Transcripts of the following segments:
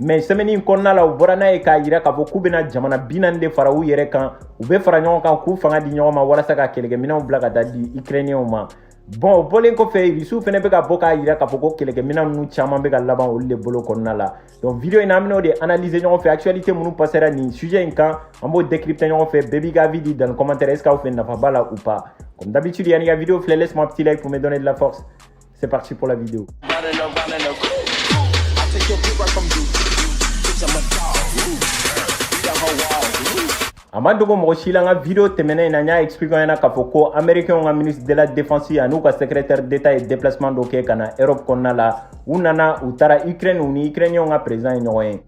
mais semaine in kɔnɔna la u bɔra n'a ye k'a yira k'a fɔ k'u bɛna jamana bi naani de fara u yɛrɛ kan u bɛ fara ɲɔgɔn kan k'u fanga di ɲɔgɔn ma walasa ka kɛlɛkɛminanw bila ka taa di ikirɛniyɛnw ma bon o bɔlen kɔfɛ irisiw fɛnɛ bɛ ka bɔ k'a yira k'a fɔ ko kɛlɛkɛminan ninnu caman bɛ ka laban olu de bolo kɔnɔna la donc video in na an bɛn'o de analyser ɲɔgɔn fɛ actualité minnu passera nin sujet in kan an b'o décrypter ɲɔgɔn fɛ bɛɛ b'i ka avis di dans commentaire est ce que aw fɛ nafa b'a la ou pas comme d'habitude yan'i ka video filɛ laisse moi petit like pour me donner de la force C'est parti pour la vidéo. a ma dogo mɔgɔ si la n ka video tɛmɛnen in na n y'a expliquer a ɲɛna k'a fɔ ko américainw ka ministre de la défense an'u ka secrétaire d'état ye déplacement dɔ kɛ ka na europe kɔnɔna la u nana u taara ukraine u ni ukrainiyɛnw ka président ye ɲɔgɔn ye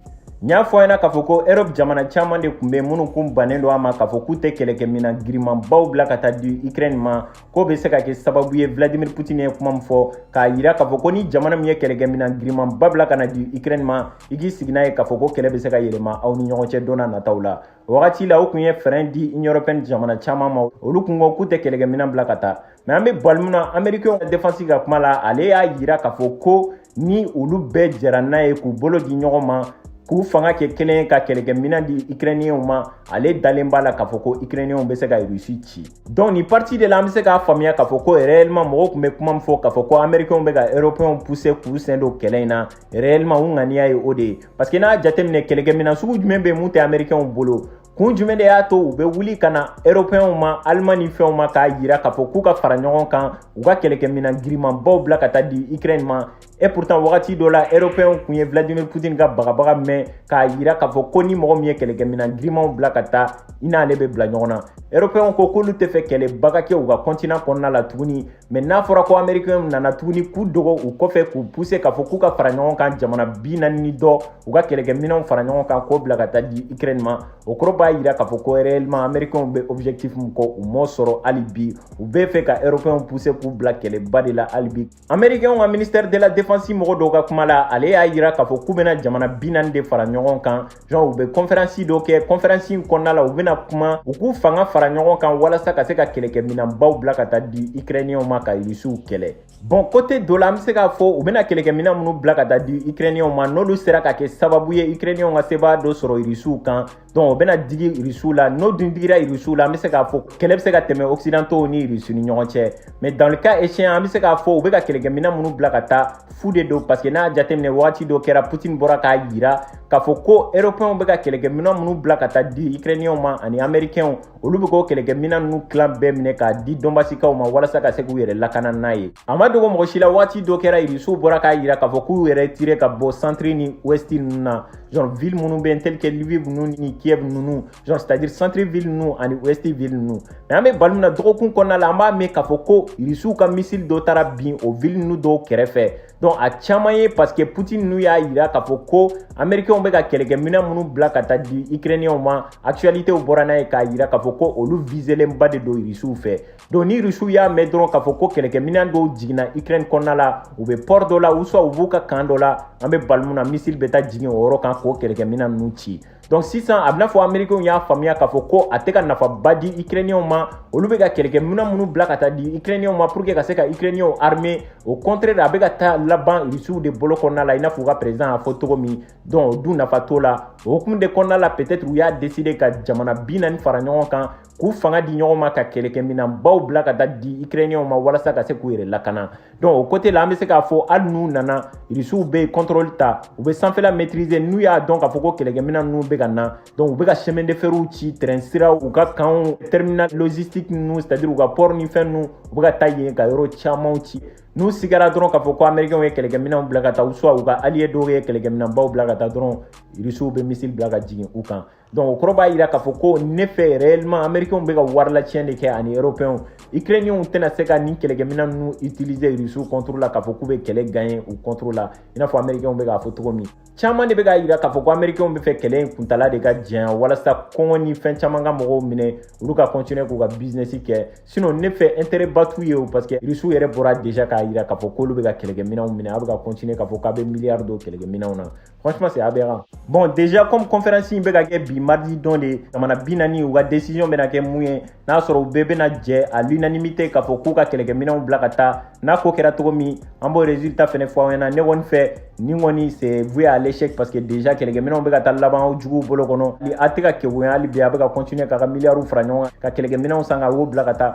n y'a fɔ a ɲɛna k'a fɔ ko europe jamana caman de kun bɛ minnu kun bannen don a ma k'a fɔ k'u tɛ kɛlɛkɛminan girimanbaw bila ka taa di ukraine ma k'o bɛ se ka kɛ sababu ye vladimir putin ye kuma min fɔ k'a yira k'a fɔ ko ni jamana min ye kɛlɛkɛminan girimanba bila ka na di ukraine ma i k'i sigi n'a ye k'a fɔ ko kɛlɛ bɛ se ka yɛlɛma aw ni ɲɔgɔn cɛ don nataw la o wagati la o kun ye frein di union européenne jamana caman ma olu kun ko k'u tɛ kɛlɛkɛminan bila ka taa mais an bɛ bali min na amerikɛnw ka defansi ka kuma la ale y'a yira k'a fɔ ko ni olu bɛɛ jɛra n'a ye k'u bolo di ɲɔgɔn ma k'u fanga kɛ kelen ka kɛlɛkɛminan di ukrainiyɛnw ma ale dalen b'a la k'a fɔ ko ukrainiyɛnw bɛ se ka rusi ci donc nin partie de la an bɛ se k'a faamuya k'a fɔ ko réellement mɔgɔw kun bɛ kuma min fɔ k'a fɔ ko américainw bɛ ka européenw pousser k'u sen don kɛlɛ in na réellement u ŋaniya ye o de ye parce que n'a y'a jateminɛ kɛlɛkɛminan sugu jumɛn bɛ min tɛ américainw bolo kun jumɛn de y'a to u bɛ wuli ka na européenw ma allemagne ni fɛnw ma k'a yira k'a fɔ k'u ka fara ɲɔgɔn kan u ka kɛlɛkɛminan girimanbaw bila ka taa di ukraine ma et pourtant wagati dɔ la européenw kun ye vladimir poutine ka bagabaga mɛn k'a yira k'a fɔ ko ni mɔgɔ min ye kɛlɛkɛminan girimanw bila ka taa i n'ale bɛ bila ɲɔgɔn na européenw ko k'olu tɛ fɛ kɛlɛba ka kɛ u ka continent kɔnɔna la tuguni mais n'a fɔra ko américainw nana tuguni k'u dogo u kɔfɛ k'u pousser k'a fɔ k'u ka fara ɲɔgɔn kan jamana bi naani ni dɔ u ka kɛlɛkɛminanw fara ɲɔgɔn kan k'o bila ka taa di ukraine ma o kɔrɔ b'a yira k'a fɔ ko réellement américainw bɛ objectif min kɔ u m'o sɔrɔ hali bi u bɛ fɛ ka européenw pousser k'u bila kɛlɛba de la hali bi amerikɛnw ka ministère de la défense mɔgɔ dɔw ka kuma la ale y'a yira k'a fɔ k'u bena jamana bi naani de fara ɲɔgɔn kan genre u be kɔnferansi dɔ kɛ kɔnferansi in kɔnɔna la u bena kuma u k'u fanga fara ɲɔgɔn kan walasa ka se ka kɛlɛkɛ minanbaw bila ka taa di ikrɛniyɛnw ma ka irisiw kɛlɛ bon côté dɔ la an be se k'a fɔ u bena kɛlɛkɛ minan minnu bila ka taa di ikrɛniyɛnw ma n'olu sera ka kɛ sababu ye ikrɛniyɛnw ka sebaa dɔ sɔrɔ irisiw kan donc o bɛna digi irisiw la n'o dun digira irisiw la an bɛ se k'a fɔ kɛlɛ bɛ se ka tɛmɛ occidentaux ni irisiw ni ɲɔgɔn cɛ mais dans le cas échéant an bɛ se k'a fɔ u bɛ ka kɛlɛkɛminan minnu bila ka taa fu de don parce que n'a y'a jateminɛ wagati dɔ kɛra putin bɔra k'a yira k'a fɔ ko européenw bɛ ka kɛlɛkɛminan minnu bila ka taa di ukrainienw ma ani américainw olu bɛ k'o kɛlɛkɛminɛn ninnu tilan bɛɛ minɛ k'a di dɔnbasikaw ma walasa ka se k'u yɛrɛ lakana n'a ye a ma dogo mɔgɔ si la wagati dɔ kɛra irisiw bɔra k'a yira k'a fɔ k'u yɛrɛ tirer ka bɔ centre ni ouest ninnu na genre ville minnu bɛ tel que lviv ninnu ni kiev ninnu genre c'est à dire centre ville ninnu ani ouest ville ninnu mais an bɛ bali min na dɔgɔkun kɔnɔna la an b'a mɛn k'a fɔ ko irisiw ka missile dɔ taara bin o ville ninnu dɔw kɛrɛfɛ donc a caman ye parce que putin ninnu y'a yira k'a fɔ ko américainw bɛ ka kɛlɛkɛminɛn minnu bila ka taa di ukrainienw ma actualitéw bɔra n'a ye k'a yira k'a fɔ ko olu viselenba de don rusiw fɛ donc ni rusiw y'a mɛn dɔrɔn k'a fɔ ko kɛlɛkɛminɛn dɔw jiginna ukraine kɔnɔna la u bɛ port dɔ la ou soit u b'u ka camp dɔ la an bɛ bali min na missile bɛ taa jigin o yɔrɔ kan k'o kɛlɛkɛminɛn ninnu ci donc sisan a b'i n'a fɔ amerikɛnw y'a faamuya k'a fɔ ko a tɛ ka nafaba di ukrainiyɛnw ma olu bɛ ka kɛlɛkɛminɛn minnu bila ka taa di ukrainiyɛnw ma pour que ka se ka ukrainiyɛnw armer au contraire a bɛ ka taa laban rusiw de bolo kɔnɔna la i n'a fɔ u ka président y'a fɔ cogo min donc o dun nafa t'o la o hukumu de kɔnɔna la peut-être u y'a décider ka jamana bi naani fara ɲɔgɔn kan k'u fanga di ɲɔgɔn ma ka kɛlɛkɛminɛnbaw bila ka taa di ukrainiyɛnw ma walasa ka se k'u yɛrɛ lakana donc o côté la an bɛ se k'a fɔ hali n'u nana irisiw bɛ contrôle ta u bɛ sanfɛla maîtriser n'u y'a dɔn k'a fɔ ko kɛlɛkɛminɛn ninnu bɛ ka na donc u bɛ ka chemin de ferw ci train siraw u ka campw terminal logistique ninnu c'est à dire u ka port ni fɛn ninnu u bɛ ka taa yen ka yɔrɔ camanw ci n'u sigara dɔrɔn k'a fɔ ko américainw ye kɛlɛkɛminɛnw bila ka taa ou soit u ka allié dɔw ye kɛlɛkɛminɛnbaw bila ka taa dɔrɔn irisiw bɛ missile bila ka jigin u kan donc o kɔrɔ b'a yira k'a fɔ ko ne fɛ réellement américainw bɛ ka wari lacɛn de kɛ ani européenw ukrainienw tɛna se ka nin kɛlɛkɛminɛn ninnu utiliser rusiw contre la k'a fɔ k'u bɛ kɛlɛ gagner u contre la i n'a fɔ américainw bɛ k'a fɔ cogo min caman de bɛ k'a yira k'a fɔ ko américainw b'a fɛ kɛlɛ in kuntala de ka janya walasa kɔngɔ ni fɛn caman ka mɔgɔw minɛ olu ka continuer k'u ka business kɛ sinon ne fɛ intérêt ba t'u ye o parce que rusiw yɛrɛ bɔra déjà k'a yira k'a fɔ k'olu bɛ ka kɛlɛkɛminɛnw minɛ a bɛ ka continuer k'a fɔ k'a bɛ milliard don kɛlɛkɛminɛnw na Franchement, c'est aberrant. Bon, déjà, comme conférence in bɛ ka kɛ bi mardi don de, jamana bi naani u ka décision bɛna kɛ mun ye, n'a sɔrɔ u bɛɛ bɛna jɛn à l'unanimité k'a fɔ k'u ka kɛlɛkɛminɛnw bila ka taa, n'a ko kɛra cogo min, an b'o résultat fɛnɛ fɔ aw ɲɛna. Ne kɔni fɛ, nin kɔni c'est voué à l'échec parce que déjà kɛlɛkɛminɛnw bɛ ka taa laban aw juguw bolo kɔnɔ. A tɛ ka kegunya hali bi, a bɛ ka continuer k'a ka milliards fara ɲɔgɔn kan, ka kɛlɛkɛminɛnw san k'o bila ka taa.